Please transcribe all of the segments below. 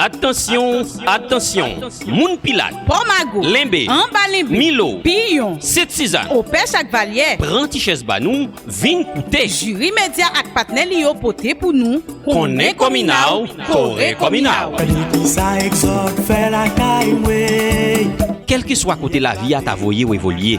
Atansyon, atansyon, moun Pilat, Pò Mago, Lenbe, Anba Lenbe, Milo, Piyon, Sent Sizann, Opèch ak Valyè, pran ti chèz ba nou, vin koute. Jiri Medya ak patnè li yo pote pou nou Konnen Kòmina w, Kore Kòmina w. Kisa Exode fè lakay mwen? Kèlkeswa kote lavi a ta voye w evolye.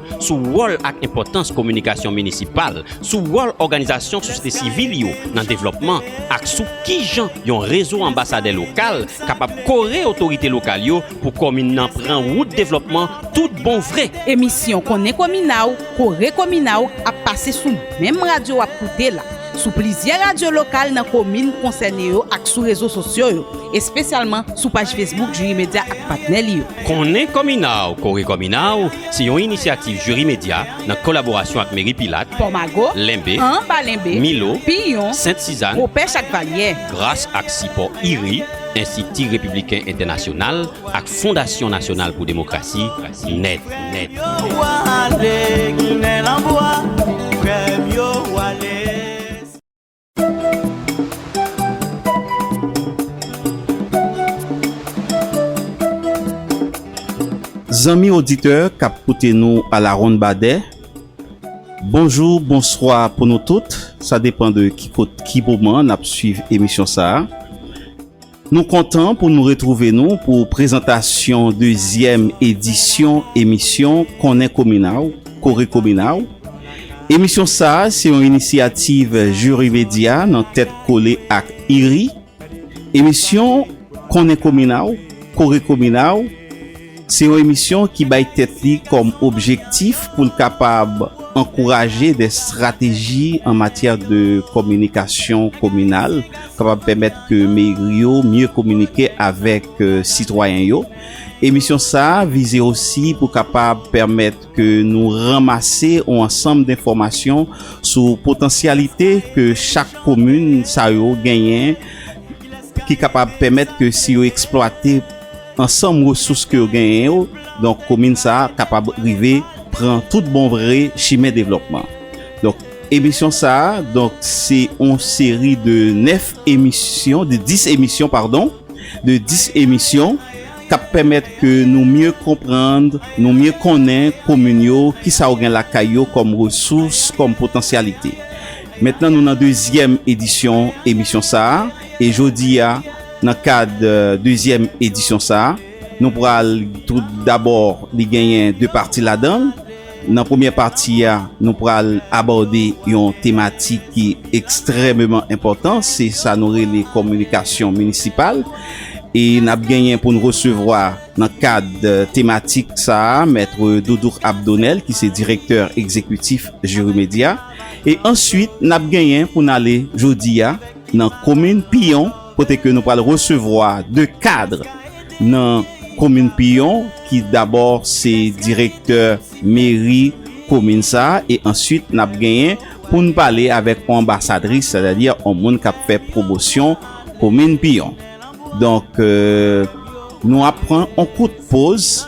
sou wòl ak enpòtans kominikasyon minisipal, sou wòl òganizasyon sosyete sivil yo nan devlòpman ak sou kijan yon rezo anbasadè lokal kapab kore otorite lokal yo pou komin nan pran wout devlòpman tout bon vre. Emisyon Konnen Komina w, Kore Komina w ap pase sou menm radyo w ap koute la, sou plizyè radyo lokal nan komin konsène yo ak sou rezo sosyo yo, espesyalman sou paj Facebook Jwirimedya ak patnè li yo. Konnen Kòmina w Kore Kòmina w se yon inisyativ Jiri Medya nan kolaborasyon ak Meri Pilat, Pòmago, Lenbe, Anba Lenbe, Milo, Piyon, Sent Sizann, Bopè Chakvalyè. Gras ak sipò IRI, Enstiti Repibliken Entènasyonal, ak Fondasyon Nasyonal pou Demokrasi, nèt. Zanmi oditè k ap koute nou alawonnbadè, bonjou, bonswa pou nou tout, sa depan de ki kot, ki moman n ap suiv emisyon sa a. Nou kontan pou nou retrouve nou pou prezantasyon dezyèm edisyon emisyon Konnen Komin a w, Kore Komin a w. Emisyon sa a se yon inisyativ Juri Media nan tèt kole ak IRI. Emisyon Konnen Komin a w, Kore Komin a w. Se yon emisyon ki bay tèt li kòm objektif pou l kapab ankouraje de strateji an matyè de kominikasyon kominal kapab pèmèt ke meri yo mye kominike avèk sitwayen yo. Emisyon sa a vize osi pou kapab pèmèt ke nou ranmase yon ansanm denfòmasyon sou potansyalite ke chak komin sa yo genyen ki kapab pèmèt ke si yo eksplwate ansanm resous ke yo genyen yo, donk komin sa a kapab rive pran tout bon vre chimen devlòpman. Donk emisyon sa a, donk se yon seri de 9 emisyon, de 10 emisyon padon, de 10 emisyon k ap pèmèt ke nou mye konprann, nou mye konnen komin yo, ki sa yo gen lakay yo kòm resous, kòm potansyalite. Mentnan nou nan dezyèm edisyon emisyon sa a, e jodi a. Nan kad dezyèm edisyon sa a, nou pral tout dabò li genyen 2 pati ladan l. Nan premyè pati a, nou pral abòde yon tematik ki ekstrèmeman enpòtan, se sa nou rele kominikasyon minisipal. E n ap genyen pou n resevwa nan kad tematik sa a Maitre Doudoukh Abdonel ki se direktè egzekitif Jirimedia. E answit n ap genyen pou n ale jodi a. nan komin Piyon kote ke nou pral resevwa 2 kadre nan komin Piyon ki dabò se direktè meri komin sa e answit nap genyen poun pale avèk yon anbasadris sètadi yon moun kap fè pwomosyon komin Piyon donk nou ap pran yon kout poz.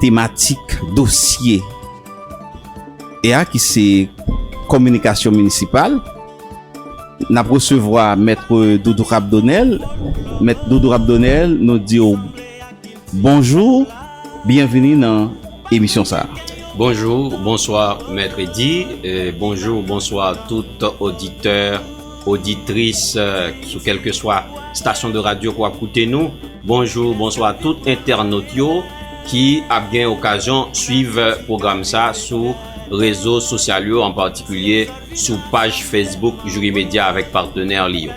Tematik dosye e a ki se Kominikasyon Minisipal. N ap resevwa Maitre Doudou Rabdonel. Maitre Doudou Rabdonel, nou di w bonjou, byenvini nan emisyon sa a. Bonjou, bonswa Maitre Eddy, bonjou, bonswa tout oditè. Auditrice sou kelkeswa stasyon de radyo ke wap koute nou, bonjou, bonswa tout entènot yo ki ap gen okazyon swiv pwogram sa sou rezo sosyal yo an patikilye sou paj Facebook Juri Media avèk patenè li yo.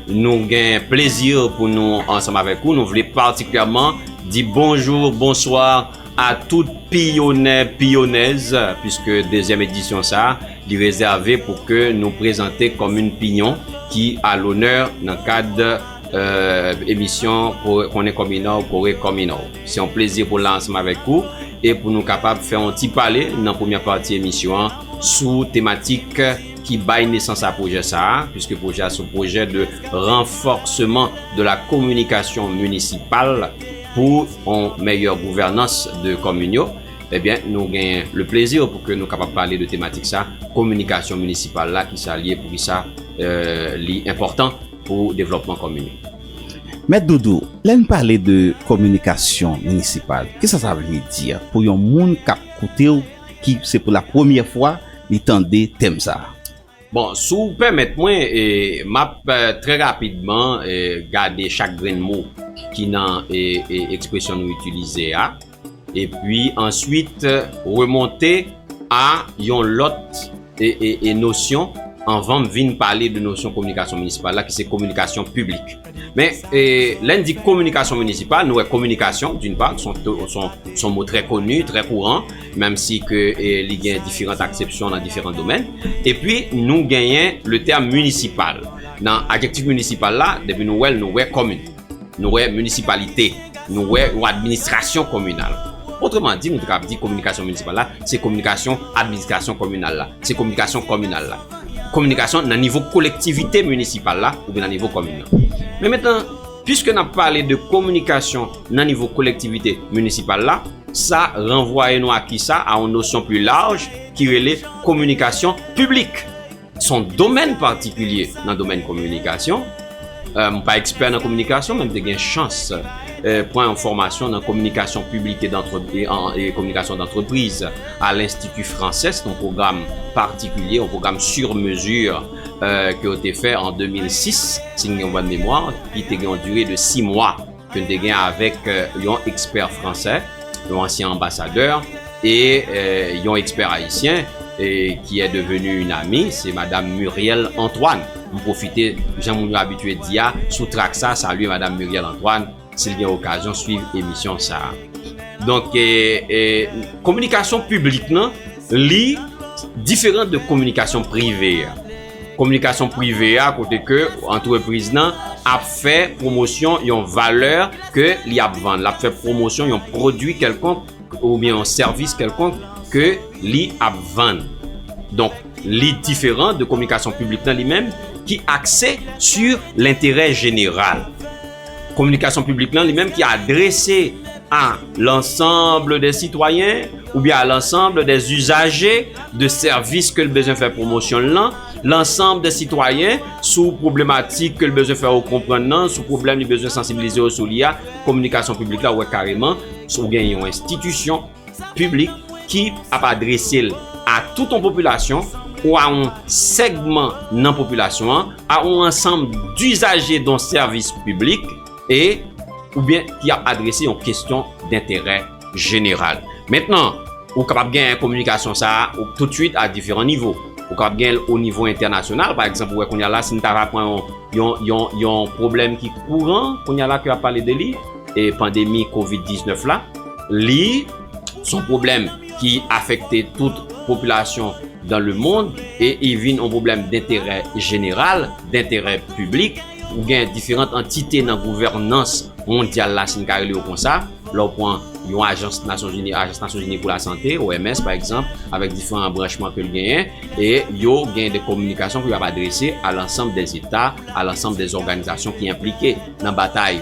Nou gen plezi pou nou ansanm avèk ou, nou vle patikilyèman di bonjou, bonswa. A tout piyonè, piyonèz, piske dezyèm edisyon sa a, li rezève pou ke nou prezante komin Piyon ki a lonè nan kad emisyon Konnen Kominò w, Kore Kominò w. Se yon plezi pou la ansanm avèk ou e pou nou kapab fè yon ti pale nan premyè pati emisyon an sou tematik ki bay nesans a pwojè sa a, piske pwojè a se yon pwojè de ranfòseman de la kominikasyon minisipal. Pou on mèyè gouvènans de komin yo, ebyen nou gen le plezi pou ke nou kapab pale de tematik sa, kominikasyon minisipal la, ki sa li ye, pou ki sa li enpòtan pou devlòpman komin yo. Mèt Doudou, lè n pale de kominikasyon minisipal, ki sa sa vle di pou yon moun k ap koute w, ki se pou la premyè fwa li tande tèm sa? Bon, si w pèmèt mwen, m ap trè rapidman gade chak grenn mo ki nan ekspresyon nou itilize a, epi answit remonte a yon lòt nosyon anvan m vin pale de nosyon kominikasyon minisipal la ki se kominikasyon piblik. Men, lè n di kominikasyon minisipal, nou wè kominikasyon, doun pa, son mo trè koni, trè kouran, menm si ke li gen diferant aksepsyon nan diferan domèn. E pi, nou genyen le tèm minisipal. Nan adjektif minisipal la, depi nou wè l, nou wè komin. Nou wè minisipalite. Nou wè yon administrasyon kominal. Otreman di, nou te kab di kominikasyon minisipal la, se kominikasyon administrasyon kominal la. Se kominikasyon kominal la. kominikasyon nan nivo kolektivite minisipal la oubyen nan nivo komin nan. Men mentan, piske n ap pale de kominikasyon nan nivo kolektivite minisipal la, sa ranvwaye nou a kisa? A yon nosyon pli laj ki rele kominikasyon piblik. S on domèn patikilye nan domèn kominikasyon. M pa ekspè nan kominikasyon men m te gen chans pran yon fòmasyon nan kominikasyon piblik e kominikasyon dantrepriz a L'Institut Frances, yon pwogram patikilye, yon pwogram sur mesure ke yo te fè an 2006, si m gen yon bòn memwa, ki te gen yon dire de 6 mwa. ke n te gen avèk yon ekspè fransè, yon ansyen anbasadè, e yon ekspè ayisyen, ki è deveni yn ami, se Madam Muriel Antoine. M pwofite, jan moun yo abitye di a, sou trak sa, salye Madam Muriel Antoine, si l gen okazyon swiv emisyon sa a. Donk, kominikasyon piblik lan, li diferan de kominikasyon prive a. Kominikasyon prive a kote ke antrepriz nan ap fè pwomosyon yon valè ke li ap vann, l ap fè pwomosyon yon pwodui kèlkonk oubyen yon sèvis kèlkonk ke li ap vann. Donk, li diferan de kominikasyon piblik nan li menm ki akse su lenterè jeneral. Kominikasyon piblik lan li menm ki adrese a lansanble de sitwayen oubyen a lansanble de izaje de sèvis ke l bezwen fè pwomosyon l lan, lansanble de sitwayen sou pwoblematik ke l bezwen fè yo konprann nan, sou pwoblèm li bezwen sansibilize yo sou li a, kominikasyon piblik la ou wè kareman sou gen yon enstitisyon. piblik ki ap adrese l a tout yon popilasyon ou a yon segman nan popilasyon an, a yon ansanm dizaje don sèvis piblik e oubyen ki ap adrese yon kestyon denterè jeneral. Mentnan, ou kapab gen kominikasyon sa a toutswit a diferan nivo. Ou kapab gen l o nivo entènasyonal, pa egzanp ou wè kounya la si n ta va pran yon yon yon yon pwoblèm ki kouran kounya la ke y ap pale de li, e pandemi kovid 19 la li son pwoblèm ki afekte tout popilasyon dan le mond e i vin on pwoblèm denterè jeneral denterè piblik ou gen diferant antite nan gouvènans mondyal la si n ka rele yo konsa lè w pran yon ajans nasyon zini ajans nasyon zini pou lasante OMS pa egzanp avèk diferan branchman ke l genyen e yo gen de kominikasyon pou y ap adrese a lansanm dè zeta a lansanm dè zòganizasyon ki enplike nan batay.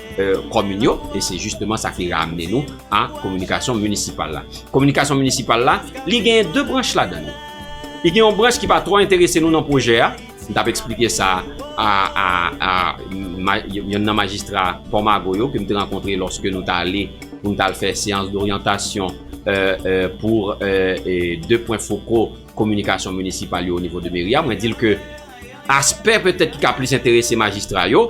komin yo e se jisteman sa ki ramne nou a kominikasyon minisipal la. Kominikasyon minisipal la, li genyen 2 branch ladan li. Li gen yon branch ki pa twò enterese nou nan pwojè a, m tap eksplike sa a yonn nan majistra Pò Mago yo ke m te rankontre lòske nou ta ale pou nou ta al fè seyans doryantasyon pou 2 pwen foko kominikasyon minisipal yo o nivo de meri a. Mwen di l ke aspè petèt ki ka plis enterese majistra yo,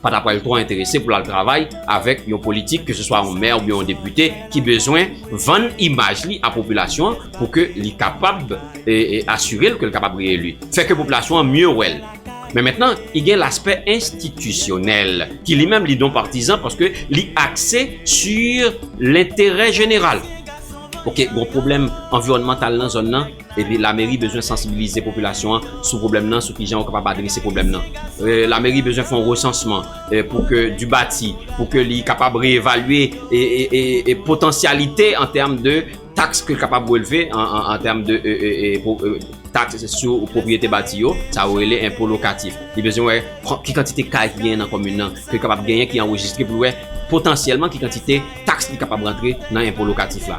pa ta pral twò enterese pou l al travay avèk yon politik, ke se swa yon mè oubyen yon depite, ki bezwen vann imaj li a popilasyon an pou ke li kapab asire l ke l kapab reyeli. Fè ke popilasyon an mye wè l. Men mentnan, i gen laspè enstitisyonèl, ki li menm li don partizan paske li akse su lenterè jeneral. Ok, gon pwoblèm anviwònmantal nan zòn nan. Epi lameri bezwen sansibilize popilasyon an sou pwoblèm nan, sou kijan yo kapab adrese pwoblèm nan. Lameri bezwen fè yon resansman pou ke di bati, pou ke li kapab reyevalye potansyalite an tèm de taks ke li kapab releve an tèm de taks sou pwopriyete bati yo, sa yo rele enpo lokatif. Li bezwen wè ki kantite kay ki genyen nan komin nan, ke li kapab genyen ki anrejistre pou l wè potansyèlman ki kantite taks li kapab rantre nan enpo lokatif la.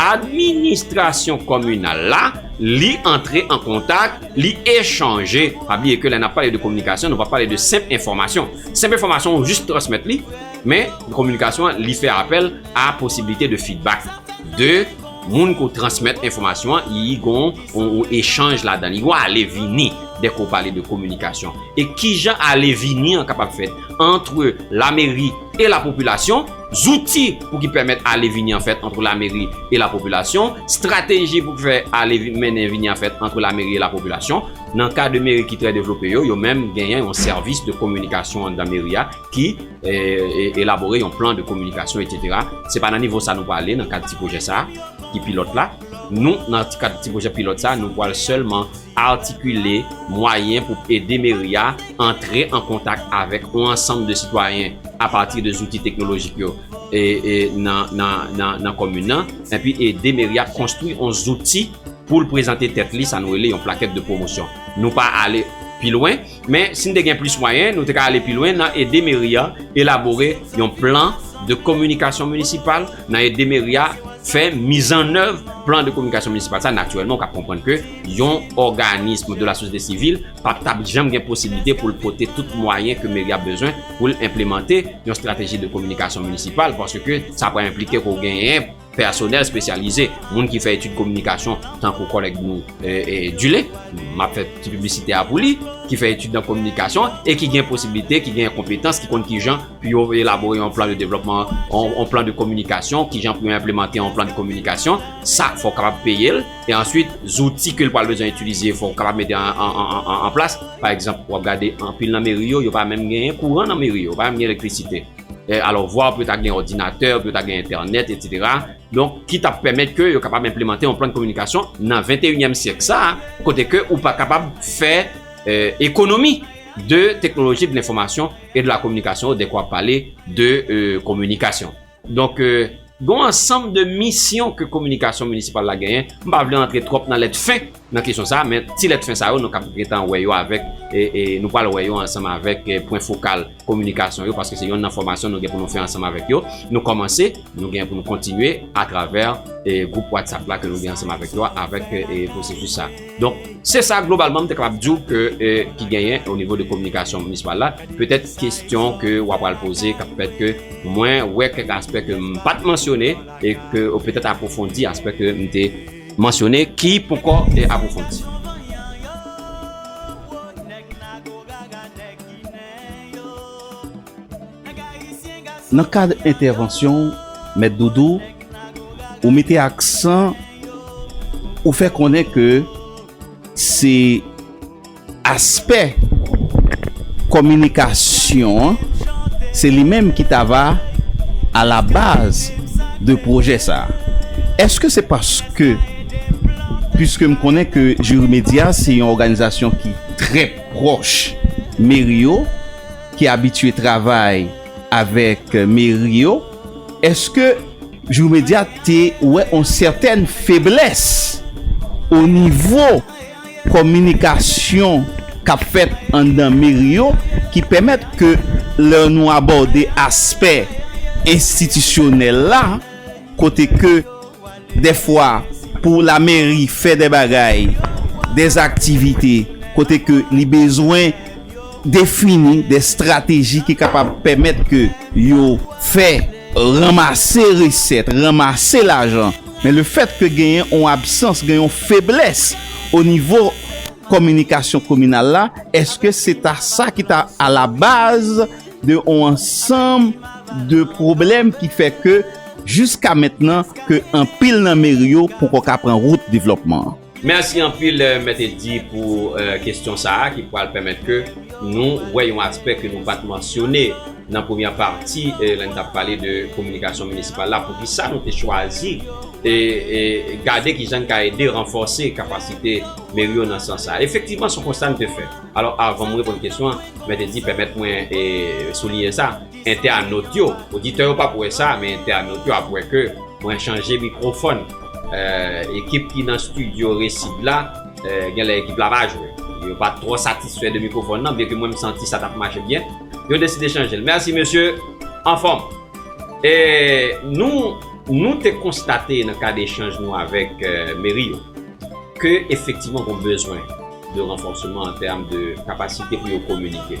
Administrasyon kominal la, li antre an kontak, li echanje. Pa bliye ke lè n ap pale de kominikasyon, nou pa pale de senp enfòmasyon. Senp enfòmasyon ou jis transmèt li, men kominikasyon an li fè apèl a posiblite de fidbak de moun ke w transmèt enfòmasyon an, li gon yon echanj ladan li, gon ale vini dè ke w pale de kominikasyon. E kijan ale vini an kapab fèt antre lameri e lapopilasyon? Zouti pou ki pèmèt ale vini an fèt antre lameri e lapopilasyon, strateji pou ki fè ale mennen vini an fèt antre lameri e lapopilasyon. Nan ka de meri ki trè devlope yo, yo menm genyen yon sèvis de kominikasyon anndan meri a ki elabore yon plan de kominikasyon etsetera. Se pa nan nivo sa nou prale nan kad ti pwojè sa ki pilòt la. Nou nan kad ti pwojè pilòt sa nou pwal sèlman. Artikile mwayen pou ede meri a antre an kontak avèk on ansanm de sitwayen apati de zouti teknolojik yo nan komin nan, enpi ede meri a konstwi on zouti pou l prezante tèt li, sa nou rele yon plakèt de pwomosyon. Nou pa ale pi lwen. Men, si n te gen plis mwayen, nou te ka ale pi lwen nan ede meri a elabore yon plan de kominikasyon minisipal, nan ede meri a fè mizannèv plan de kominikasyon minisipal sa a. Natirèlman, ou kab konprann ke yon òganism de la sosyete sivil pa t ap janm gen posiblite pou l pote tout mwayen ke meri a bezwen pou l enplemante yon estrateji de kominikasyon minisipal paske sa pral enplike ke w genyen Pèsonèl spesyalize, moun ki fè etid kominikasyon tankou kòlèg nou Dule, m ap fè ti piblisite a pou li, ki fè etid nan kominikasyon e ki gen posiblite, ki gen konpetans, ki konn kijan pou yo elabore yon plan de devlòpman, yon plan de kominikasyon, kijan pou yo enplemante yon plan de kominikasyon, sa fò w kapab peye l. E answit, zouti ke l pral bezwen itilize fò w kapab mete an plas. Pa egzanp, w ap gade anpil nan meri yo, yo pa menm genyen kouran nan meri yo, yo pa menm gen elektrisite. eh, alò vwa pou yo ta gen òdinatè, pou yo ta gen entènèt, etsetera, donk ki ta pèmèt ke yo kapab enplemante yon plan de kominikasyon nan venteyinyèm syèk sa a, kote ke ou pa kapab fè ekonomi eh, de teknoloji de lenfòmasyon e de la kominikasyon dèk wap pale de kominikasyon. Donk, gon ansanm de misyon ke kominikasyon minisipal la genyen, m pa vle antre twòp nan lèt fen, nan kesyon sa, men ti lèt fen sa yo nou kab gentan wè yo avèk, e nou pral wè yo ansanm avèk pwen fokal kominikasyon yo paske se yonn nan fòmasyon nou gen pou nou fè ansanm avèk yo. Nou kòmanse, nou gen pou nou kontinye atravè gwoup WhatsApp la ke nou gen ansanm avèk yo a avèk pwosesis sa. Donk, se sa globalman m te kapab di w ke ki genyen o nivo de kominikasyon minisipal la. Petèt kesyon ke w apral poze kab fèt ke mwen wè kèk aspè ke m pa t mansyone e ke ou petèt apwofondi aspè ke m te mansyone ki poko apwofondi. Nan kad entèvansyon w, Mèt Doudou, ou mete aksan, ou fè konnen ke se. Aspè kominikasyon an, se li menm ki ta va a la baz de pwojè sa a. Eske se paske, piske m konnen ke Jiri Medya se yon òganizasyon ki trè pwòch meri yo, ki abitye travay avèk meri yo, eske Jiri Medya te wè yon sètèn feblès o nivo. kominikasyon k ap fèt anndan meri yo ki pèmèt ke lè nou abòde aspè enstitisyonèl la kote ke dèfwa pou lameri fè dè bagay, dè aktivite kote ke li bezwen defini dè estrateji ki kapab pèmèt ke yo fè ranmase resèt, ranmase lajan. Men le fèt ke genyen on absans, gen yon feblès o nivo kominikasyon kominal la, eske se ta sa ki ta a la baz de on ansanm de pwoblèm ki fè ke jiska mentnan ke anpil nan meri yo poko ka pran wout devlòpman an? Merci anpil Mèt Eddy pou kesyon sa a ki pwal pèmèt ke nou wè yon aspè ke nou pat mansyone nan premyè pati lè n tap pale de kominikasyon minisipal la poukisa nou te chwazi gade kijan n ka ede ranfòse kapasite meri yo nan sans sa a. Efektivman son konsta n te fè. Alò avan m reponn kesyon an Mèt Eddy pèmèt mwen souliyen sa. Entènot yo, oditè yo pap wè sa men entènot yo ap wè ke mwen chanje mikrofòn. Ekip ki nan stidyo Resid la, genlè ekip la pa jwe. Yo pa t twò satisfè de mikrofòn nan byenke mwen m santi sa t ap mache byen. Yo deside chanje l. Mèsi mesye, anfòm. E nou nou te konstate nan kad echanj nou avèk meri yo ke efektivman gon bezwen de ranfòseman an tèm de kapasite pou yo kominike.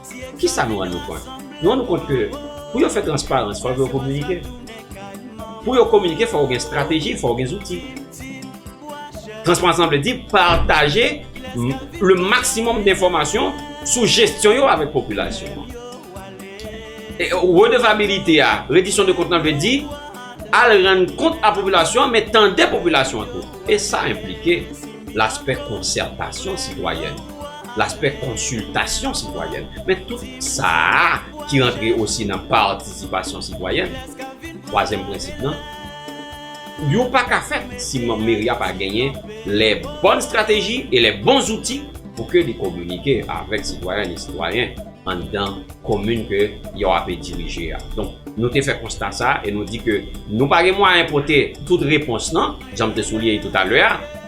Kisa nou rann nou kont? Nou rann nou kont ke pou yo fè transparans fòk yo kominike. Pou yo kominike fòk yo gen estrateji, fòk yo gen zouti. Transparans lan vle di pataje le maksimòm de enfòmasyon sou jesyon yo avèk popilasyon an. Redevabilite a, redisyon de kont lan vle di al rann kont a popilasyon an men tande popilasyon an tou. E sa enplike laspè konsètasyon sitwayèn. Laspè konsiltasyon sitwayèn. Men tout sa a ki rantre osi nan patisipasyon sitwayèn, twazyèm prensip nan, yo pa ka fèt si manm meri a pa genyen lè bòn strateji e lè bon zouti pou ke li kominike avèk sitwayèn e sitwayen anndan komin ke yo ape dirije a. Donk, nou te fè konsta sa a e nou di ke nou pa gen mwayen pote tout repons nan, jan m te souliye toutalè a.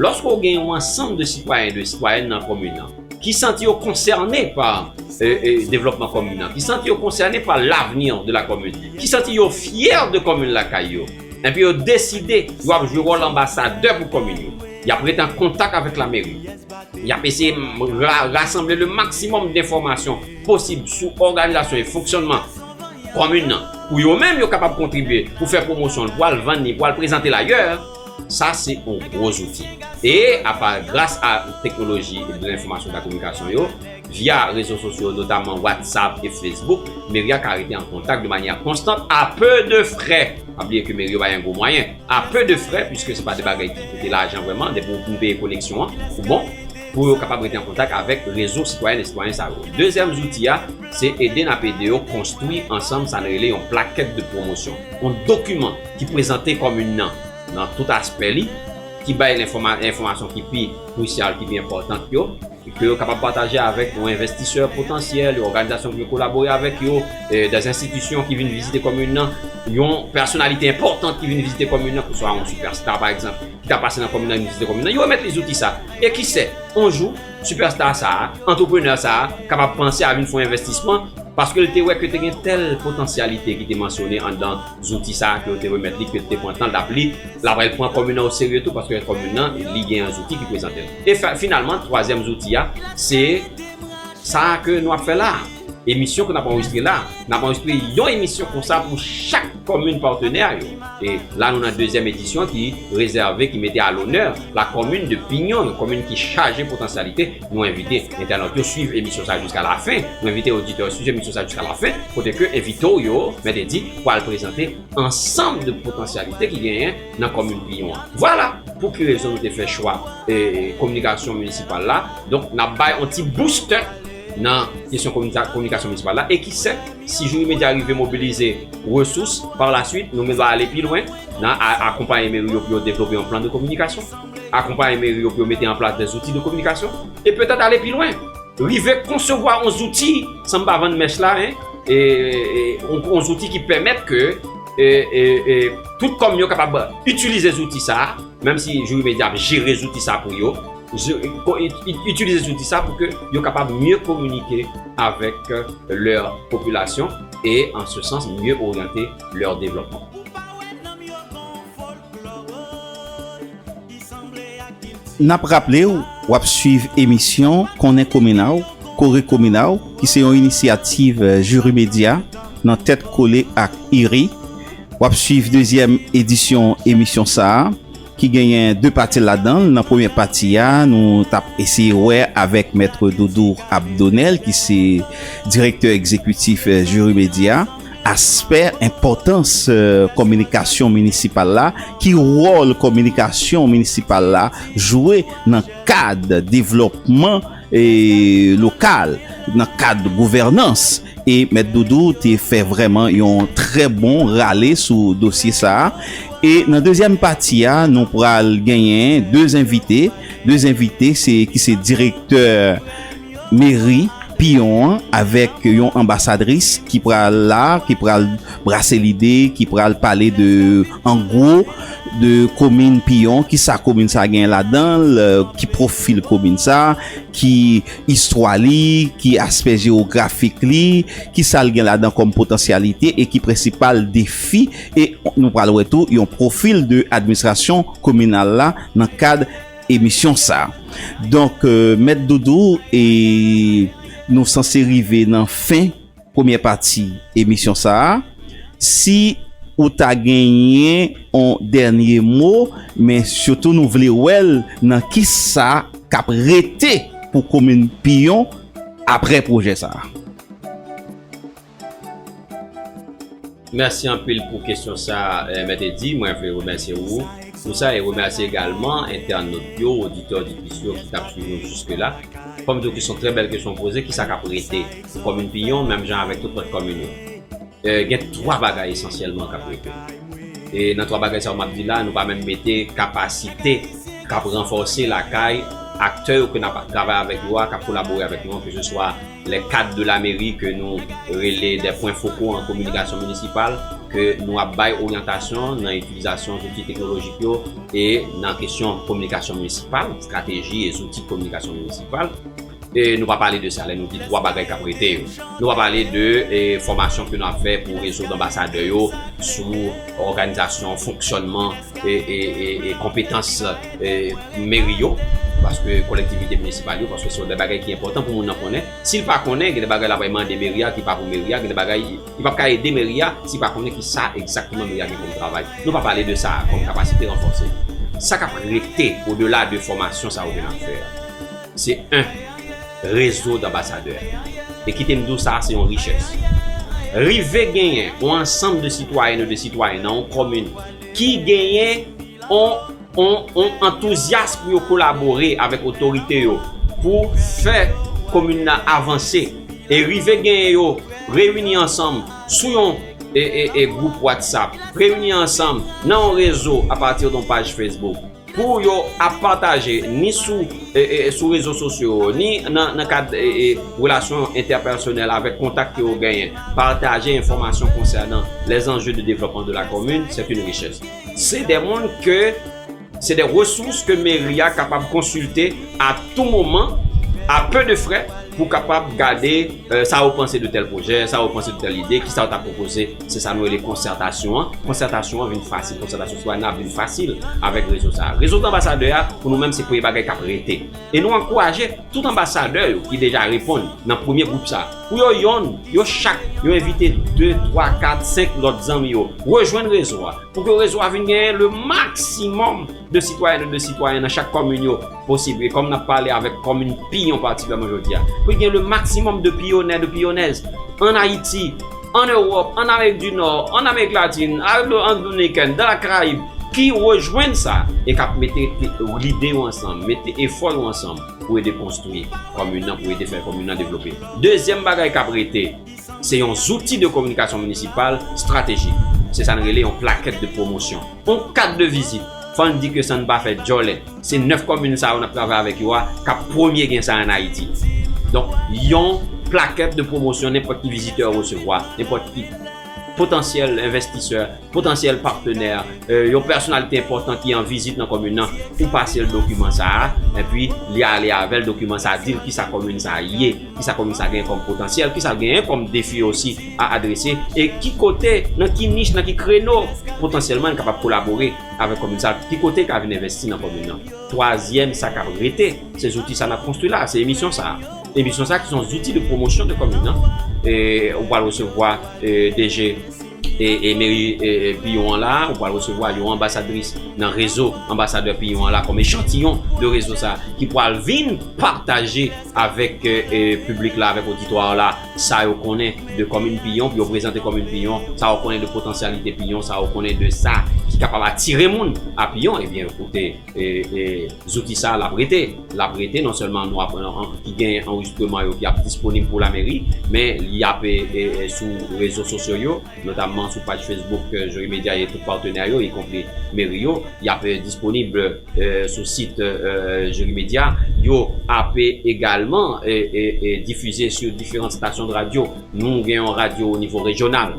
Lòske w gen yon ansanm de sitwayen, de sitwayèn nan komin an, ki santi yo konsène pa devlòpman komin an, ki santi yo konsène pa lavni de la komin, ki santi yo fyè de komin lakay yo, enpi yo deside yo ap jwe wòl anbasadè pou komin yo, y ap ret an kontak avèk lameri, y ap eseye rasanble le maksimòm denfòmasyon posib sou òganizasyon e fonksyònman komin an, pou yo menm yo kapab kontribye pou fè pwomosyon l, pou al vann li, pou al prezante l ayè. Sa se yon gwo zouti. E apa gras a teknoloji de lenfomasyon da kominikasyon yo, via rezo sosyo notaman WhatsApp e Facebook, meri a ka rete an kontak de manyè konstant a pe de frè. Pa bliye ke meri yo bay an gwo mwayen. A pe de frè, pwiske se pa de bagay ki koute lajan vrèman, depi ou fin peye koneksyon an, ou bon, pou yo kapab rete an kontak avèk rezo sitwayèn e sitwayen sa yo. Dezyèm zouti a, se ede n ap ede yo konstwi ansanm sa n rele yon plakèt de pwomosyon, yon dokiman, ki prezante komin nan nan tout aspè li, ki bay enfòmasyon ki pi krisyal, ki pi enpòtant yo, ke yo kapab pataje avèk yon envestisè potansyèl, yon òganizasyon ki vle kolabore avèk yo, dè enstitisyon ki vin vizite komin nan, yon pèsonalite enpòtant ki vin vizite komin nan, oswa yon sipèsta, pa egzanp, ki ta pase nan komin nan, vin vizite komin nan, yo remèt li zouti sa a. E kise, yon jou, sipèsta sa a, antreprenè sa a, kapab panse a vin fè yon envestisman, paske li te wè ke te gen tèl potansyalite ki te mansyone anndan. Zouti sa ke yo te remèt li, ke li te pran tan l t ap li, l ap al pran komin nan oserye tou paske komin nan li gen yon zouti ki prezante l. E finalman, twazyèm zouti a, se sa a ke nou ap fè la a. Emisyon ke n ap anrejistre la a. N ap anrejistre yon emisyon konsa pou chak komin patenè yo. E la nou nan dezyèm edisyon ki rezève, ki mete a lonè lakomin de Pinyon, yon komin ki chaje potansyalite. Nou envite entènot yo swiv emisyon sa jiska la fen, nou envite oditè yo swiv emisyon sa jiska la fen, kote ke envite w yo, mèt e di, pwal prezante ansanm de potansyalite ki genyen nan komin Piyon an. Vwala pou ki rezon nou te fè chwa kominikasyon minisipal la, donk nap bay yon ti boustè nan kesyon kominikasyon minisipal la, e ki sèt, si Jouri Medya rive mobilize resous, par la swit, nou menm nap ale pi lwen nan akonpaye meri yo pou yo devlope yon plan de kominikasyon. akonpaye meri yo pou yo mete an plas de zouti de kominikasyon e petèt ale pi lwen, rive konsevwa yon zouti, san m pa vann mèch la, yon zouti ki pèmèt ke tout kòm yo kapab itilize zouti sa, menm si Jouri Medya ap jere zouti sa pou yo, itilize zouti sa pou ke yo kapab mye kominike avèk lè popilasyon e an se sans mye oryante lè devlòpman. N ap raple w, w ap swiv emisyon Konnen Komina w, Kore Komina w, ki se yon inisyativ Jiri Medya nan tèt kole ak IRI. W ap swiv dezyèm edisyon emisyon sa a ki genyen 2 pati ladan l. Nan premyè pati a, nou t ap eseye wè avèk Mèt Doudou Abdonel ki se Direktè Egzekitif Jiri Medya. Aspè, Enpòtans kominikasyon minisipal la Ki wòl kominikasyon minisipal la jwe nan kad devlòpman lokal, nan kad gouvènans? E Mèt Doudou te fè vrèman yon trè bon rale sou dosye sa a. E nan dezyèm pati a, nou pral genyen de envite, de envite se ki se direktè. Meri, piyon an avèk yon anbasadris ki pral la, ki pral brase lide, ki pral pale de an gwo de komin piyon, ki sa komin sa gen ladan l, ki pwofil komin sa, ki istwa li, ki aspè jewografik li, ki sa l gen ladan kòm potansyalite e ki prensipal defi e nou pral wè tou yon pwofil de administrasyon kominal la nan kad. emisyon sa donk mèt doudou e nou sanse rive nan fen premyè pati emisyon sa si ou ta genyen yon dènye mo men sitou nou vle wèl nan ki sa kap rete pou komin piyon aprè pwojè sa. Mèsi anpil pou kesyon sa Mèt Eddy, mwen vle remèsye ou pou sa e remèsye egalman entènot yo, oditè, oditris yo ki tap swiv nou jiske la. Fòm diw ki son trè bèl kesyon ou poze, kisa kap rete pou komin Piyon menm jan avèk tout lòt komin yo? Gen 3 bagay esansyèlman kap rete. E nan 3 bagay sa yo map di la, nou pa menm mete kapasite kap ranfòse lakay aktè yo ke nap travay avèk yo a, kap kolabore avèk nou an, keseswa. Les cadres de la mairie ke nou rele des points focaux en communication municipale ke nou ap bay oryantasyon nan itilizasyon zouti teknolojik yo e nan kesyon kominikasyon minisipal, estrateji e zouti kominikasyon minisipal. E nou pa pale de sa lè nou di twa bagay k ap rete yo. Nou pa pale de fòmasyon ke nou ap fè pou rezo danbasadè yo sou òganizasyon, fonksyònman e konpetans. meri yo, paske kolektivite minisipal yo, paske se yon de bagay ki enpòtan pou moun nan konnen. Si l pa konnen, gen de bagay l ap al mande meri a ki pa pou meri a, gen de bagay li p ap ka ede meri a si l pa konnen ki sa egzakteman meri a gen kòm travay. Nou pa pale de sa kòm kapasite ranfòse. Sa k ap rete odela de fòmasyon sa yo ke n ap fè a, se 1 rezo danbasadè. E kite m di w sa a se yon richès. Rive genyen yon ansanm de sitwayèn ou de sitwayen nan yon kòmin ki genyen. On on on antouzyas pou yo kolabore avèk otorite yo pou fè komin nan avanse e rive genyen yo reyini ansanm sou yon e e e gwoup watsap, reyini ansanm nan yon rezo apati don paj fesbouk pou yo ap pataje ni sou e e sou rezo sosyo yo ni nan nan kad e e relasyon entèpèsonèl avèk kontak ke yo genyen, pataje enfòmasyon konsènan lèzanje de devlòpman de la komin, sèt yn richès. Se de moun ke, se de resous ke meri a kapab konsilte a tou moman, a pe de frè, pou kapab gade sa yo panse de tèl pwojè, sa yo panse de tèl ide, kisa yo ta pwopoze. Se sa nou rele konsètasyon an. Konsètasyon an vin fasil, konsètasyon sitwayèn nan ap vin fasil avèk rezo sa a. Rezo anbasadè a, pou nou menm se premye bagay k ap rete. E nou ankouraje tout anbasadè yo ki deja reponn nan premye gwoup sa a. Pou yo yonn, yo chak, yo envite de, twa, kat, senk lòt zanmi yo rejwenn rezo a. Pou ke rezo a vin genyen le maksimòm de sitwayèn ou de sitwayen nan chak kòmin yo posib. E kòm n ap pale avèk kòmin Piyon patikilyaman jodi a. Pou gen le maksimòm de Piyonè, de Piyonèz ann Ayiti, ann Ewòp, ann Amerik di Nò, ann Amerik Latin, ann Repiblik Dominikèn, dan Lakarayib, ki rejwenn sa e k ap mete lide yo ansanm, mete efò yo ansanm. pou ede konstwi komin nan, pou ede fè komin nan devlope. Dezyèm bagay k ap rete, se yon zouti de kominikasyon minisipal estratejik. Se sa n rele yon plakèt de pwomosyon, yon kat de vizit. Fò n di ke san n pa fè djòlè, se 9 komin sa yo n ap travay avèk yo a k ap premye gen sa an Ayiti. Donk, yon plakèt de pwomosyon nenpòt ki vizitè resevwa, nenpòt ki. potansyèl envestisè, potansyèl patenè, yon pèsonalite enpòtan ki an vizit nan komin nan pou pase l dokiman sa a, enpi li ale avè l dokiman sa a di l kisa komin sa a ye, kisa komin sa a genyen kòm potansyèl, kisa l genyen kòm defi osi a adrese, e ki kote, nan ki nich, nan ki kreno potansyèlman li kapab kolabore avèk komin sa a, ki kote li ka vin envesti nan komin nan. Twazyèm sa k ap rete, se zouti sa a n ap konstwi la a, se emisyon sa a. Emisyon sa ki son zouti de pwomosyon de komin nan, ou pral resevwa DG e meri Piyon an la, ou pral resevwa yon anbasadris nan rezo anbasadè Piyon an la kòm echantiyon de rezo sa ki pral vin pataje avèk piblik la, avèk oditwa la sa yo konnen de komin Piyon pou yo prezante komin Piyon, sa yo konnen de potansyalite Piyon, sa yo konnen de sa ki kapab atire moun a Piyon ebyen koute. E zouti sa a l ap rete. L ap rete non sèlman nou ap ki gen anrejistreman yo ki ap disponib pou lameri men li ap sou rezo sosyo yo notamman sou paj fesbouk Joyo Media e tout patenè yo ikonpri meri yo y ap disponib sou sit Joyo Media yo ap egalman difize sou diferant stasyon de radyo nou gen yon radyo o nivo rejyonal.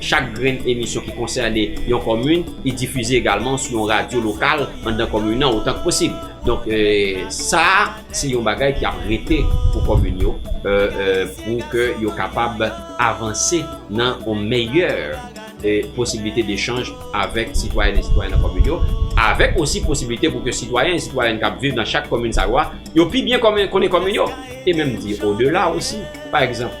Chak grenn emisyon ki konsène yon komin, li difize egalman sou yon radyo lokal anndan komin nan otan k posib. Donk, sa a se yon bagay ki ap rete pou komin yo pou ke yo kapab avanse nan yon meyè posibilite dechanj avèk sitwayèn e sitwayen nan komin yo, avèk osi posibilite pou ke sitwayen e sitwayèn k ap viv nan chak komin sa yo a, yo pi byen konnen komin yo, e menm di odela osi, pa egzanp.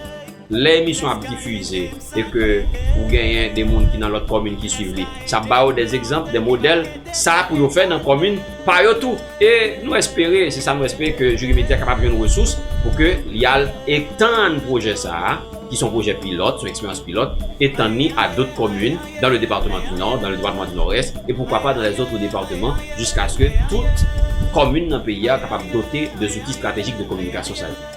Lè emisyon ap difize e ke ou genyen de moun ki nan lòt kòmin ki swiv li, sa ap ba yo de egzanp, de modèl, sa pou yo fè nan kòmin pa yo tou. E nou espere, se sa nou espere ke Juri Media kapab jwenn resous pou ke li al etann pwojè sa a, ki son pwojè pilòt, son eksperyans pilòt, etann li a dot kòmin dan le departeman di Nò, dan le departeman di Nòrès e poukwa pa dan lèzotre departeman jiskaske tout kòmin nan peyi a kapab dote de zouti stratejik de kominikasyon sa yo.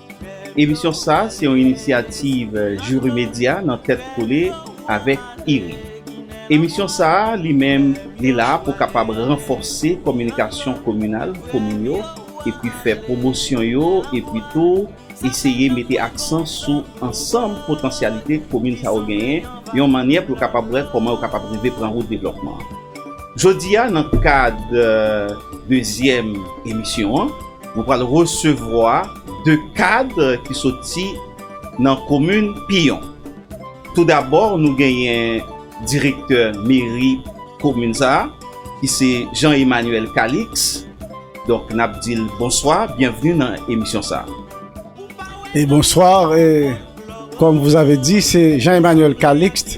Emisyon sa se yon inisyativ Jouri Media nan tèt kole avèk IRI. Emisyon sa li menm li la pou kapab ranfòse kominikasyon kominal komin yo epi fè pwomosyon yo epi tou eseye mete aksan sou ansanm potansyalite komin sa yo genyen yon mannyè pou yo kapab wè kòman yo kapab rive pran wout devlòpman. Jodi a nan kad dezyèm emisyon an. Nou pral resevwa 2 kad ki soti nan komin Piyon. Tou dabò nou genyen direktè meri komin sa a ki se Jean Emmanuel Calix. Donk n ap di l bonswa, byenvni nan emisyon sa a. Bonswa, kòm vou zave di se Jean Emmanuel Calix.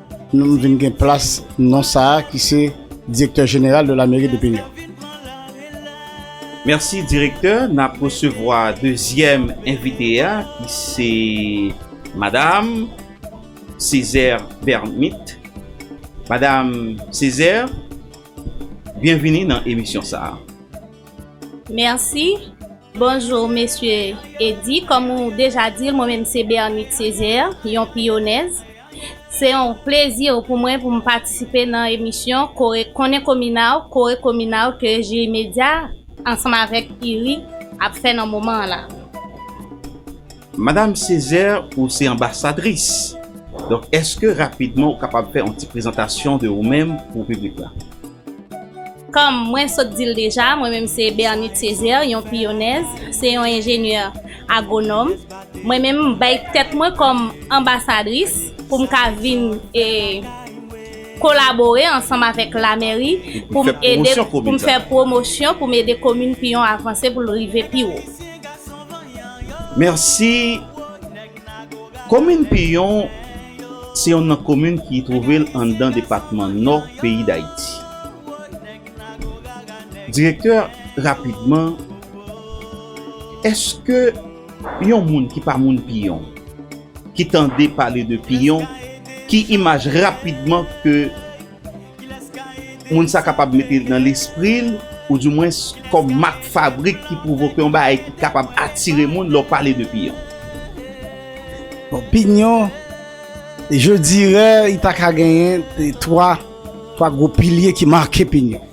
Nou m vin gen plas non sa a ki se Direktè Jeneral de la Mairie de Pignon. Merci Directeur, nap resevwa dezyèm envite a ki se Madame Césaire Bermith. Madame Césaire, byenvini nan emisyon sa a. Merci, bonjour Mesye Eddy, kòm ou deja di l mwen menm se Bermith Césaire, yon piyonèz. Se yon plezi pou mwen pou m patisipe nan emisyon Konnen Komina w, Kore Komina w ke Jiri Medya ansanm avèk IRI ap fè nan moman an la. Madam Césaire ou se anbasadris, donk èske rapidman ou kapab fè yon ti prezantasyon de ou menm pou piblik la? Kòm mwen sot di l deja, mwen menm se Bernite Césaire, yon piyonèz, se yon enjenyè Agwonòm, mwen menm m bay tèt mwen kòm anbasadris pou m ka vin e kolabore ansanm avèk lamèri pou m ede pou m fè pwomosyon pou m ede komin piyon avanse pou l rive pi wo. Mèsi, komin piyon se yonn nan komin ki twouve l anndan depatman nò peyi dayiti. Direktè rapidman Eske yon moun ki pa moun piyon ki tande pale de piyon ki imaj rapidman ke moun sa kapab mete nan lespril ou di mwens kòm mak fabrik ki pwovoke yon bagay ki kapab atire moun lè w pale de piyon? Bon piyon je dirè li paka genyen 3 gwo pilye ki make piyon.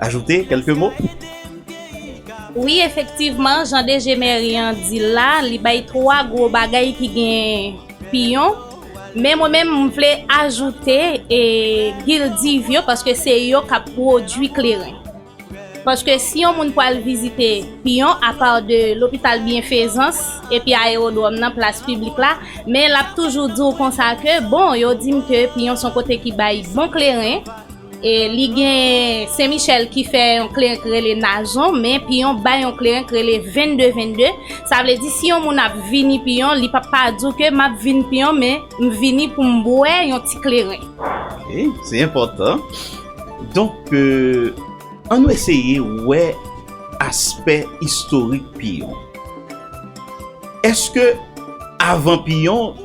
ajoute kelke mo? Wi efektivman jan DG mèri an di l la, li bay 3 gwo bagay ki gen piyon, men mwen menm m vle ajoute e gildiv yo paske se yo k ap pwodui kleren. Paske si yon moun pral vizite piyon apa de lopital byenfezans epi ayewodwòm nan plas piblik la, men l ap toujou di w konsa ke bon yo di m ke piyon s on kote ki bay bon kleren, E li gen Sen Michèl ki fè yon kleren ki rele Nazon, men Piyon bay yon kleren ki rele Vennde Vennde. Sa vle di si yon moun ap vini Piyon, li p ap pa di w ke m ap vin Piyon men m vini pou m bwè yon ti kleren. Ok, se enpòtan. Donk, an nou eseye wè aspè istorik Piyon. Èske avan Piyon.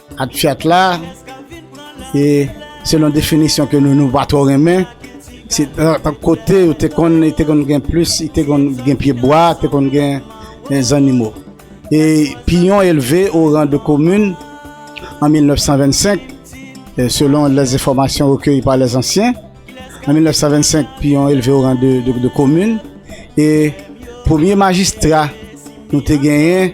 Ak Fiat la, e selon definisyon ke nou nou pa twò renmen, se ak kote yo te konn e te konn gen plis, e te konn gen pye bwa, te konn gen gen zannimo. E Piyon elve o ran de komin an 1925, selon lè enfòmasyon rekeyi pa lè zansyen. An 1925, Piyon elve o ran de de komin e premye majistra nou te genyen,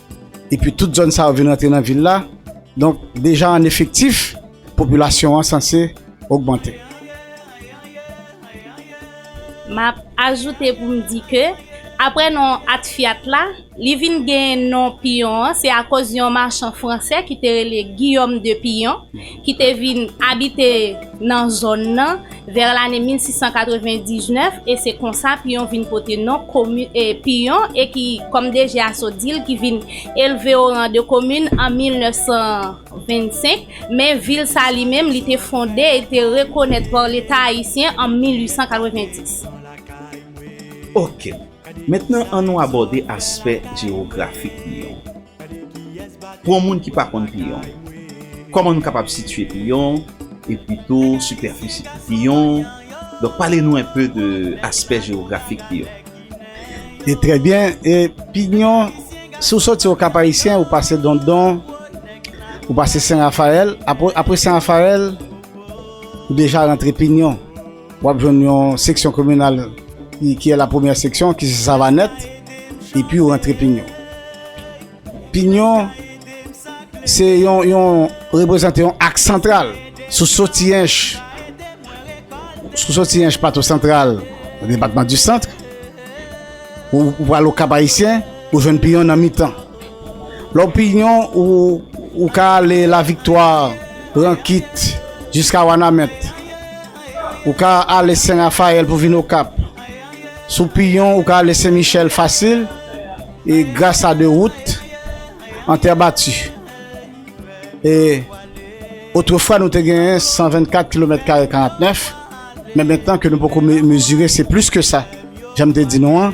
Epi tout zòn sa yo vin rantre nan vil la, donk deja an efektif, popilasyon an sanse ogmante. M ap ajoute pou m di ke, apre non Atfiat la, li vin gen non Piyon an, se akoz yon machan franse ki te rele Guillaume de Pillon, ki te vin abite nan zòn nan. Vè lane 1699 e se konsa Piyon vin pote non komin e Piyon e ki kòm deje a sot di l ki vin elve o ran de komin an 1925 men vil sa li menm li te fonde e te rekonèt pa leta ayisyen an 1890. Ok. Mentnan an nou abòde aspè jewografik Piyon. Pou yon moun ki pa konn piyon, kòman nou kapab sitye piyon epi tou sipèfisi piyon? Donk pale nou enpe de aspè jewografik piyon. E trè byen, e piyon si w soti o kap ayisyen ou pase dondon ou pase sen rafayèl apre sen rafayèl ou deja rantre piyon. Wap jwenn yon seksyon kominal ki e la premyè seksyon ki se Savanèt epi ou rantre Pinyon. Pinyon se yon yon reprezante yon ak santral sou soti ench sou soti ench pato santral depatman di sant ou pral okap ayisyen ou jwenn Pinyon nan mitan. Lòpinyon ou ou ka ale Laviktwa, Rankit, jiska Wanament. Ou ka ale Sen Rafayèl pou vin Okap. Sou Pinyon ou ka ale Sen Michèl fasil e gras a 2 wout an tè bati. E otrefwa nou te gen 124 kilomèt kare 49 men mentnan ke nou poko mezire se plis ke sa jan m te di nou an.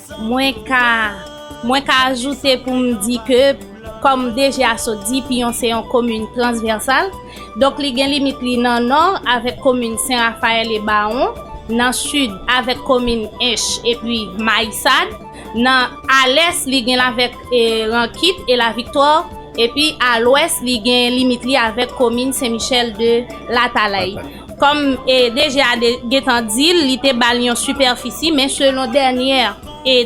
Mwen ka Mwen ka ajoute pou m di ke kòm DG a sot di Piyon se yon komin transvèsal donk li gen limit li nan nò avèk komin Sen Rafayèl e Bawon, nan sid avèk komin Ench epi Mayisad, nan a lès li gen l avèk Rankit e Laviktwa epi a lwès li gen limit li avèk komin Sen Michèl de Latalay. Kòm DG a te gentan di l, li te ba l yon sipèfisi, men selon dènyè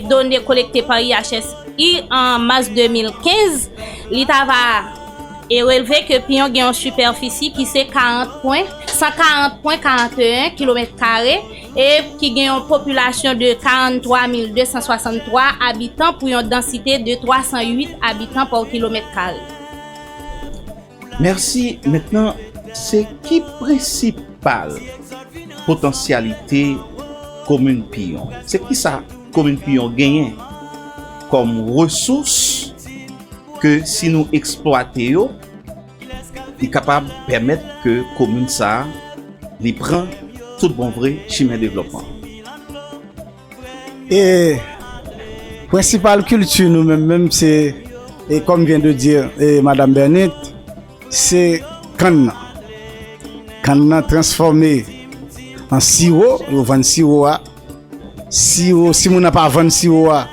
done kolekte pa IHSI an mas 2015, li ta va releve ke piyon gen yon sipèfisi ki se 40 pwen, 140 pwen 41 kilomèt kare, e ki gen yon popilasyon de 43263 abitan pou yon dansite de 308 abitan pò kilomèt kare. Merci mentnan se ki prensipal potansyalite komin piyon se kisa komin piyon genyen kom resous ke si nou eksplwate yo li kapab pèmèt ke komin sa li pran tout bon vre chimen devlopman. E prensipal kilti nou menm menm se e kòm vyen de di e madam Bènit se kann nan. Kann nan transfòme an siwo, yo vann siwo a. Siwo, si moun nan pa vann siwo a,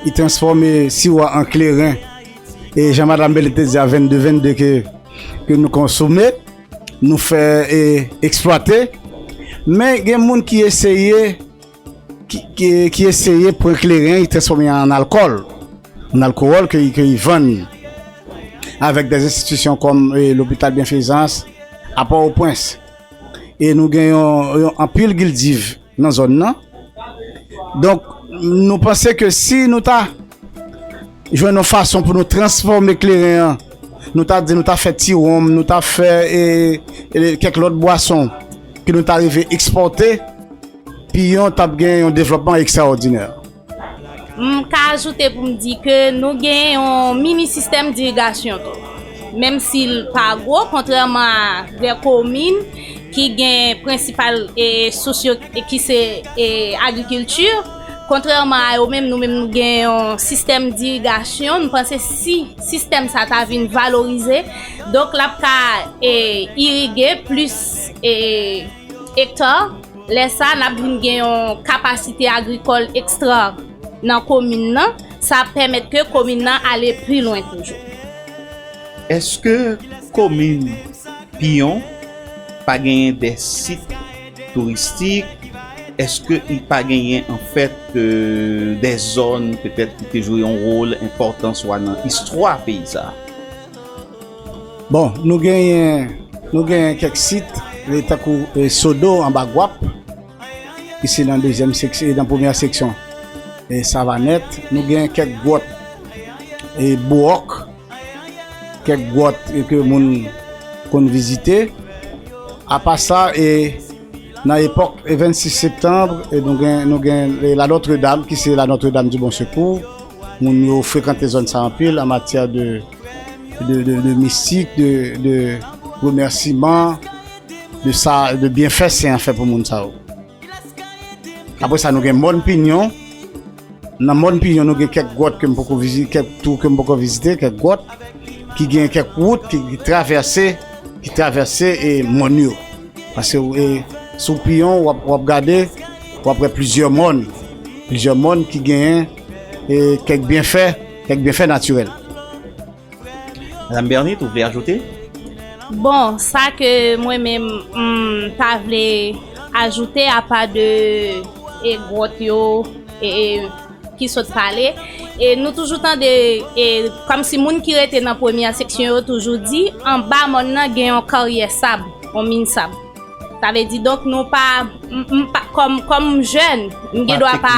li transfòme siwo a an kleren. E jan madam Bènit te di a 22 22 ke ke nou konsome, nou fè e eksplwate. Men gen moun ki eseye. ki eseye pran kleren e transfòme an alkòl, an alkowòl ke li vann avèk dè enstitisyon kòm lopital Byenfezans a Pòtoprens. E nou gen yon anpil gildiv nan zòn nan. Donk nou panse ke si nou ta. Jwenn yon fason pou nou transfòme kleren an. Nou ta di nou ta fè ti wonm, nou ta fè kèk lòt bwason ke nou ta rive ekspòte, Piyon tap gen yon devlòpman ekstraòdinè. M ka ajoute pou m di ke nou gen yon mini sistèm dirigasyon tou. Menm si l pa gwo, kontrèman a de komin ki gen prensipal sous yo ki se agrikilti, Kontrèman a yo menm, nou menm nou gen yon sistèm dirigasyon, nou panse si sistèm sa ta vin valorize, donk l ap ka irige plis ekta, lè sa n ap vin gen yon kapasite agrikòl ekstra nan komin nan, sa ap pèmèt ke komin nan ale pi lwen toujou. Eske komin Piyon pa genyen de sit? touristik eske li pa genyen an fèt dè zòn petèt ki te jwe yon wòl enpòtan swa nan istwa peyi sa a? Bon nou genyen nou genyen kèk sit e tankou sodo anba gwap ki se nan dezyèm seks e nan premyè seksyon e savanèt nou genyen kèk gwòt e bouòk. kèk gwòt ke moun konn vizite. Apa sa, e nan epòk 26 septanb, nou gen la Notre Dame, ki se la Notre Dame du Bon Secours. Moun yo frekante zòn sa anpil, an matyè de mistik, de remèsiman, de byenfè sen an fè pou moun sa yo. Apre sa nou gen Mòn Pinyon. Nan mòn Pijon nou gen kèk gwòt ke m poko vizite, kèk tou ke m poko vizite, kèk gwòt ki gen kèk wout ki travèse, ki travèse e mòn yo. Paske e sou Pijon wap wap gade, wap wè plizyè mòn, plizyè mòn ki genyen e kèk byenfè, kèk byenfè natirèl. Madame Bernite, vous voulez ajouter? Bon, sa ke mwen menm m ta vle ajoute apa de e gwòt yo e ki sot pale, e nou toujou tande e kòm si moun ki rete nan premyè seksyon yo toujou di anba mòn nan gen yon karyè sab, yon min sab. Sa vle di donk nou pa, m pa, kòm, kòm m jèn, m gen dwa pa,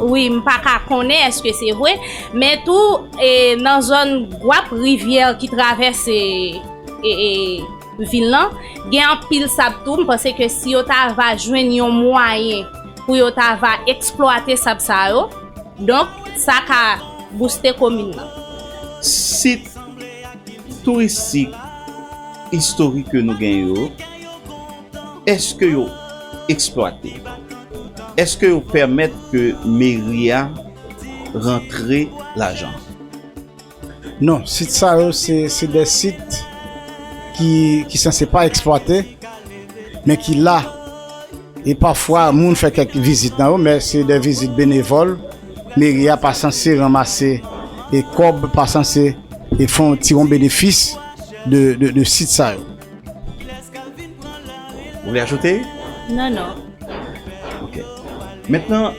wi, m pa ka konnen èske se vre, men tou, e, nan zòn gwap rivyè ki travèse, e, e, vil lan, gen anpil sab tou, m panse ke si yo ta va jwenn yon mwayen pou yo ta va eksplwate sab sa yo, donk, sa ka bouste komin nan. Sit. touristik istorik ke nou gen yo eske yo eksplwate eske yo pèmèt ke meri a rantre lajan non sit sa yo se de sit ki sanse pa eksplwate men ki la e pafwa moun fè kèk vizit nan yo men se de vizit benevòl. Meri a pa sanse ranmase e kòb, pa sanse e fè yon ti yon benefis de sit sa yo. Ou vle ajoute? Non, non. Ok. Mentnan,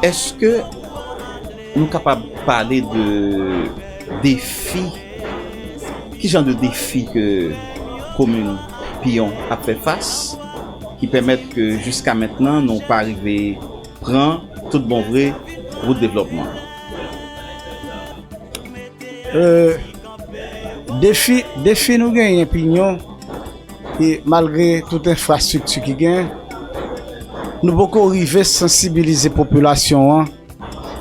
eske nou kapab pale de defi, ki jan de defi ke komin Piyon ap fè fas? ki pèmèt ke jiska mentnan nou pa rive pran tout bon vre wout devlòpman an? Defi, defi nou genyen pinyon e malgre tout enfrastrikti ki genyen, nou poko rive sansibilize popilasyon an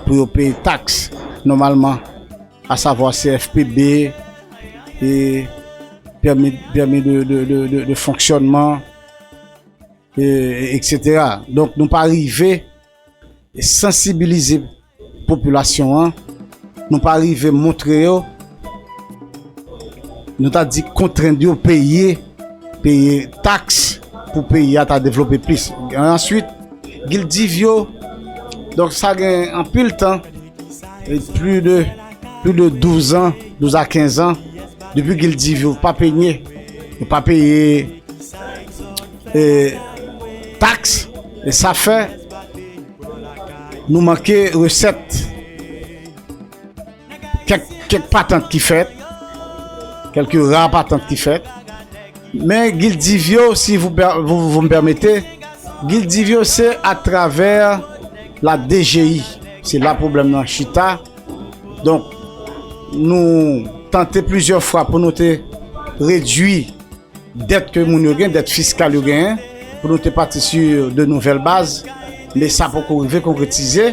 pou yo peye taks nòmalman a savwa CFPB e pèmi de fonksyònman e eksetera. Donk nou pa rive sansibilize popilasyon an, nou pa rive montre yo, nou ta di kontrend yo peye, peye taks pou peyi a ta devlope plis. Answit, gildiv yo, donk sa gen anpil tan. Pli de pli de 12 an, 12 a 15 an, depi ki l divi ou pa penye, ou pa peye e taks, e sa fè nou manke resèt. Kèk kèk patant ki fèt, kèlke ra patant ki fèt. Men gil div yo si vou m pèmete, gil div yo se atravè la DGI, se la pwoblèm nan chita, donk nou tante plizyè fwa pou nou te redui dèt ke moun yo gen, dèt fiskal yo genyen, pou nou te pati su de nouvèl baz, men sa poko rive konkretize.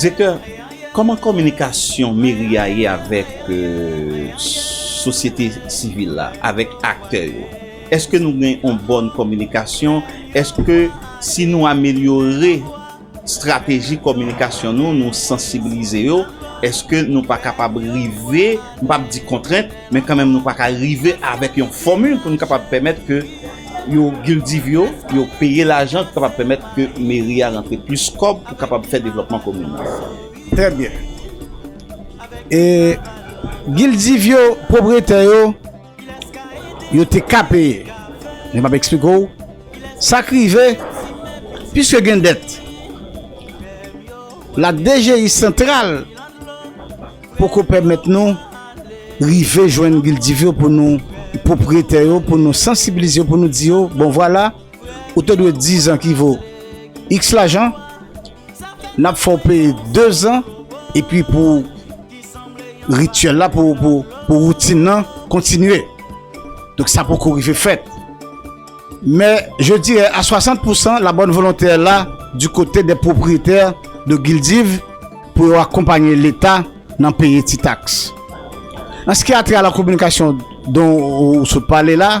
Direktè, kòman kominikasyon meri a ye avèk sosyete sivil la, avèk aktè yo? Eske nou gen yon bòn kominikasyon? Eske si nou amelyore estrateji kominikasyon nou, nou sansibilize yo, eske nou pa kapab rive, m pap di kontrent, men kanmenm nou pa ka rive avèk yon fòmil pou nou kapab pèmèt ke yo gildiv yo, yo peye lajan ki kapab pèmèt ke meri a rantre plis kòb pou kapab fè devlòpman komin nan. Trè byen. E gildiv yo, pwopriyetè yo, yo te ka peye. Men m'ap eksplike ou sa k rive piske gen dèt. La DGI santral poko pèmèt nou rive jwenn gildiv yo pou nou, pwopriyetè yo, pou nou sansibilize yo, pou nou di yo, bon vwala, ou te dwe 10 ans ki vo X lajan, nap fè w peye 2 ans epi pou rituel la pou pou routine nan kontinye. Donk sa poko rive fèt. Men je dirè a 60 pou 100 la bonne volonté est là du kote de pwopriyetè de Gildiv pou yo akonpanye leta nan peye ti taks. An ski a tre a la kominikasyon don ou sot pale la,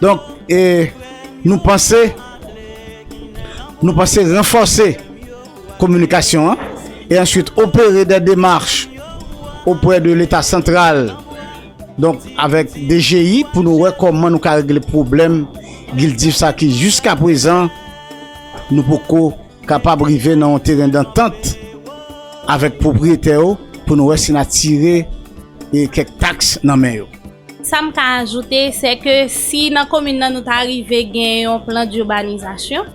Donk e nou panse nou panse ranfòse kominikasyon an e answit opere dè demach opwè de leta santral donk avèk DGI pou nou wè kòman nou ka regle pwoblèm gildif sa ki jiska pwezan nou poko kapab rive nan yon teren dantant avèk pwopwiyetè yo pou nou wè si na tire e kèk taks nan men yo. Sa m ka ajoute, se ke si nan komin nan nou ta rive gen yon plan d'urbanisation,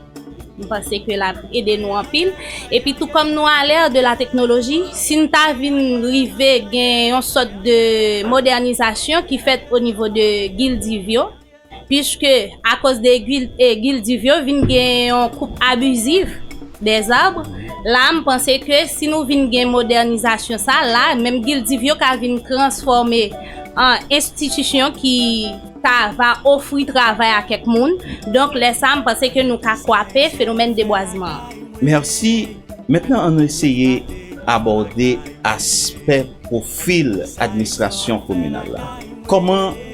m panse ke l ap ede nou anpil. Epi tou kòm nou a l'ère de la technologie, si n ta vin rive gen yon sòt de modènisasyon ki fèt o nivo de gildiv yo, Piske akoz de gil div yo vin gen yon koup abiziv de zab, la a m panse ke si nou vin gen modènizasyon sa la, menm gil div yo ka vin transfòme an enstitisyon ki ta va ofri travay a kèk moun, donk lè sa a m panse ke nou ka kwape fenomèn debwazman an. Mèsi, mentnan an nou eseye abòde aspè pwofil administrasyon kominal la. Kòman.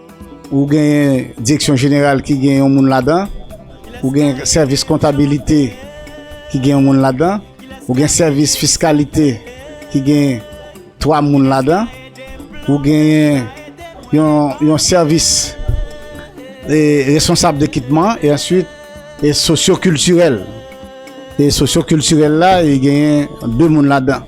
Ou genyen direksyon jeneral ki gen yon moun ladan, ou gen sèvis kontabilite ki gen yon moun ladan, ou gen sèvis fiskalite ki gen 3 moun ladan, ou genyen yon sèvis e responsab dekipman e answit e sosyo kiltirèl. E sosyo kiltirèl la e genyen 2 moun ladan.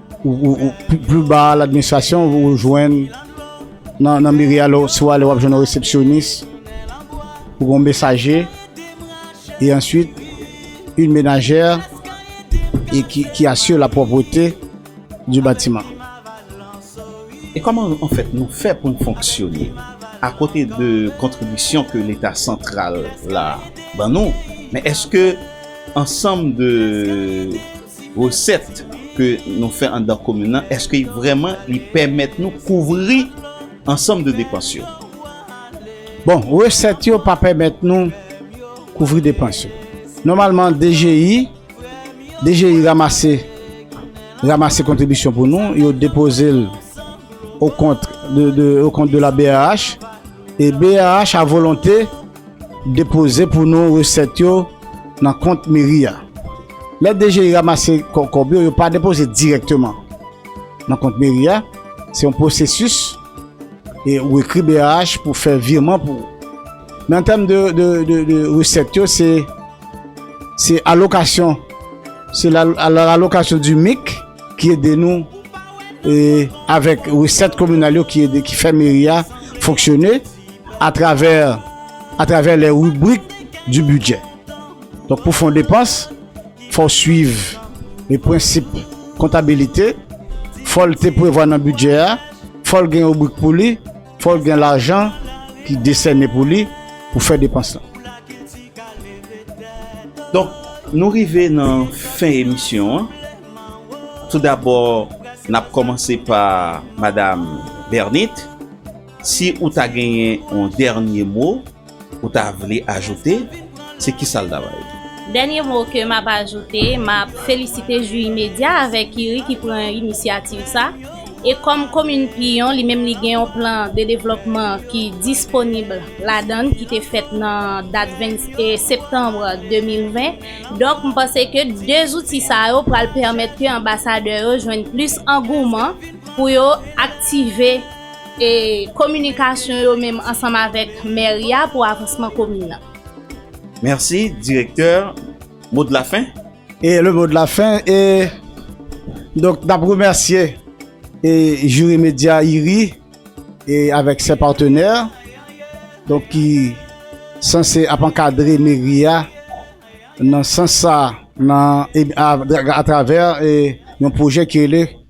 Plu ba a l'administration ou jwenn nan meri a si ou ale wap jwenn yon resepsyonis ou gon mesaje e answit yon menajè ki asire la pwopwete di batiman. E kòman an fèt nou fè pou n fonksyone? A kote de kontribisyon ke leta santral la ban nou men eske ansanm de Resèt ke nou fè anndan komin lan, eske vrèman li pèmèt nou kouvri ansanm de depans yo? Bon, resèt yo pa pèmèt nou kouvri depans yo. Nòmalman DGI, DGI ramase, ramase kontribisyon pou nou, yo depoze l o kont, o kont de la brh, e brh a volonte. Depoze pou nou resèt yo nan kont meri a. Lè DGI ramase kòb yo, yo pa depoze dirèkteman nan kont meri a. Se yon pwosesis e ou ekri brh pou fè virman pou ou. Men an tèm de resèt yo, se alokasyon, se alokasyon di mik ki ede nou avèk resèt kominal yo ki fè meri a fonksyone. a travè a travè lè ribrik di bidjè. Donk pou fon depans, fò w swiv e prensip kontabilite, fò l te prevwa nan bidjè a, fò l gen ribrik pou li, fò l gen lajan ki desène pou li pou fè depans lan. Donk nou rive nan fen emisyon an. Tou dabò n ap kòmanse pa madam Bernite. Si ou ta genyen yon dènye mo ou ta vle ajoute, se kisa l ta va ye? Dènye mo ke m ap ajoute, m ap felisite Jwi Medya avèk IRI ki pran inisyativ sa. E kòm komin Piyon, li menm li gen yon plan de devlòpman ki disponib ladan l, ki te fèt nan dat 20 septanm 2020. Donk, m panse ke de zouti sa yo pral pèmèt ke anbasadè yo jwenn plis angouman pou yo aktive. E kominikasyon yo menm ansanm avèk mèri a pou avansman komin nan. Mèsi direktè, mo de la fen? E le mo de la fen e donk n ap remèsye e Jiri Medya IRI e avèk sè patenè donk ki sanse ap ankadre meri a nan sans sa nan e a atravè e yon pwojè ki rele.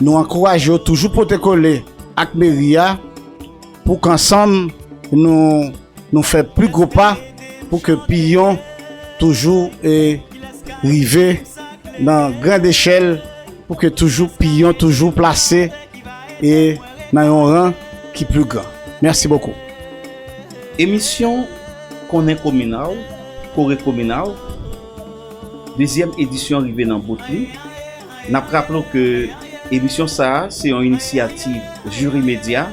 Nou ankouraje yo toujou pote kole ak meri a pou k ansanm nou nou fè pi gwo pa pou ke Piyon toujou rive nan grand echèl pou ke toujou Piyon toujou plase nan yon ran ki pi gran. Mèsi bokou. Emisyon Konnen Komina w, Kore Komina w, dezyèm edisyon rive nan bout li. N ap raple w ke emisyon sa a se yon inisyativ Juri Media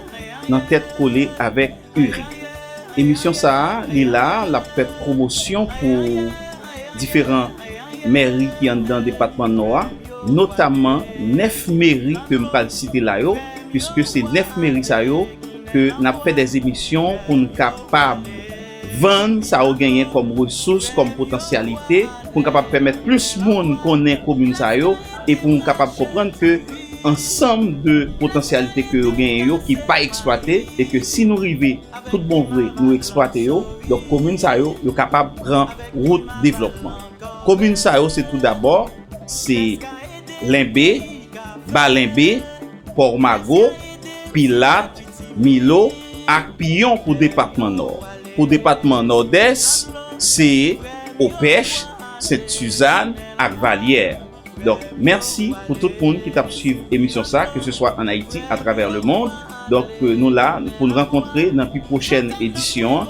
nan tèt kole avèk URI. Emisyon sa a li la a l ap fè pwomosyon pou diferan mèri ki anndan depatman Nò a, notamman 9 meri ke m pral site la yo, puiske se 9 meri sa yo ke n ap fè dè emisyon pou n kapab. Vann sa ou genyen kòm resous, kòm potansyalite pou n kapab pèmèt plis moun konnen komin sa yo e pou n kapab konprann ke ansanm de potansyalite ke yo genyen yo ki pa eksplwate e ke si nou rive tout bon vre nou eksplwate yo donk komin sa yo yo kapab pran wout devlòpman. Komin sa yo se tou dabò se Lenbe, Ba Lenbe, Pòmago, Pilat, Milo, ak Piyon pou depatman Nò. Pou depatman Nòdès, se Opèch, Sent Suzann ak Valyè. Donk, mèsi pou tout moun ki t ap swiv emisyon sa a, keseswa ann Ayiti, atravè lemond. Donk, nou la pou n rankontre nan pi pwochèn edisyon.